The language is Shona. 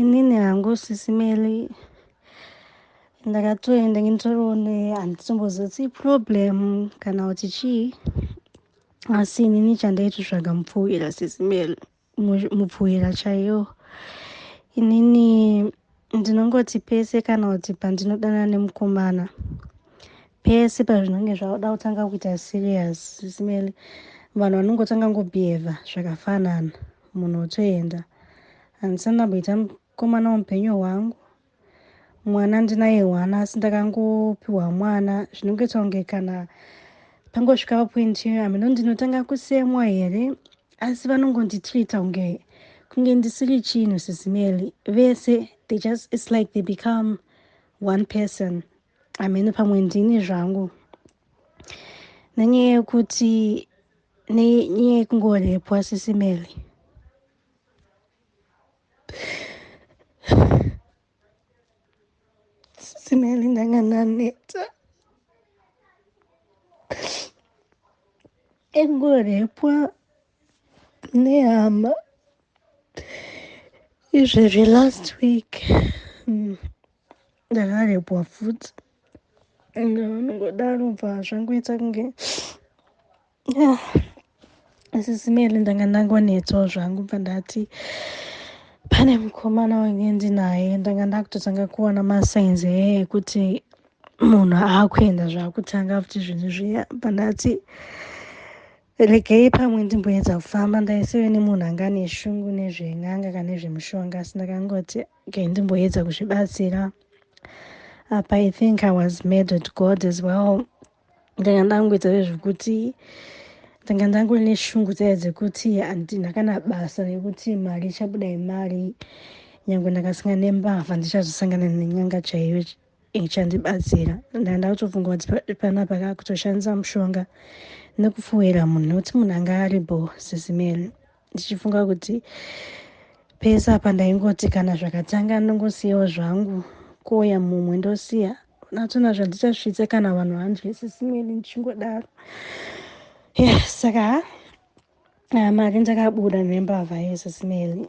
Inini hangu sisi Meli ndakatoenda nginitoroone handitombozotsi problem kana kuti chii asi inini chandaitotsvaga mupfuwira sisi Meli mupfuwira chaiyo inini Ndinongoti pese kana kuti pandinodana nemukomana pese pazvinenge zvaoda kutanga kuita serious simele vanhu vanongotanga ngobehavha zvakafanana munhu otoenda handisani ndamboita mukomana womupenyu hwangu mwana ndinaye hwana asi ndakangopiwa mwana zvinongoita kunge kana pangosvika papoint iyo ameno ndinotanga kusemwa here Asi vanongondi treater kunge kunge ndisiri chinhu sisi Melly. Vese they just it's like they become one person. Hameno pamwe ndini zvangu. Nenyaya yekuti nenyaya yekungorepwa sisi Melly. Sisimeli ndanga ndaneta engorepwa nehama izvezvi last week hmm, ndakarepwa futi and vanongodaro bva zvangoita kunge Yeah. Sisi Meli ndanga ndangonetswawo zvangu bva ndati pane mukomana wange ndinaye ndanga ndakutotanga kuona masigns eye ekuti munhu akuenda zvakutanga futi zvinhu zviya bva ndati regei pamwe ndimboedza kufamba ndaiseve nemunhu anga ane shungu nezven'anga kana nezvemushonga asi ndakangoti okay ndimboedza kuzvibatsira apa i think i was made at god as well ndanga ndangoita zvezvekuti ndanga ndangone shungu dzaya dzekuti handina kana basa nekuti mari ichabuda yemari nyange ndakasinga nembavha ndichazosangana nenyanga chaiyo ichandibatsira ndanga ndakutofunga kuti panapa kakutoshandisa mushonga nekufuwira munhu nokuti munhu anga ari bho sisimeri ndichifunga kuti pese apa ndaingoti kana zvakatanga ndongosiyawo zvangu kouya mumwe ndosiya natsona zvandichasvitse kana vanhu vanzwisisimweni ndichingodaro yeah, saka ha ah, mari ndakabuda nembavha yesismeli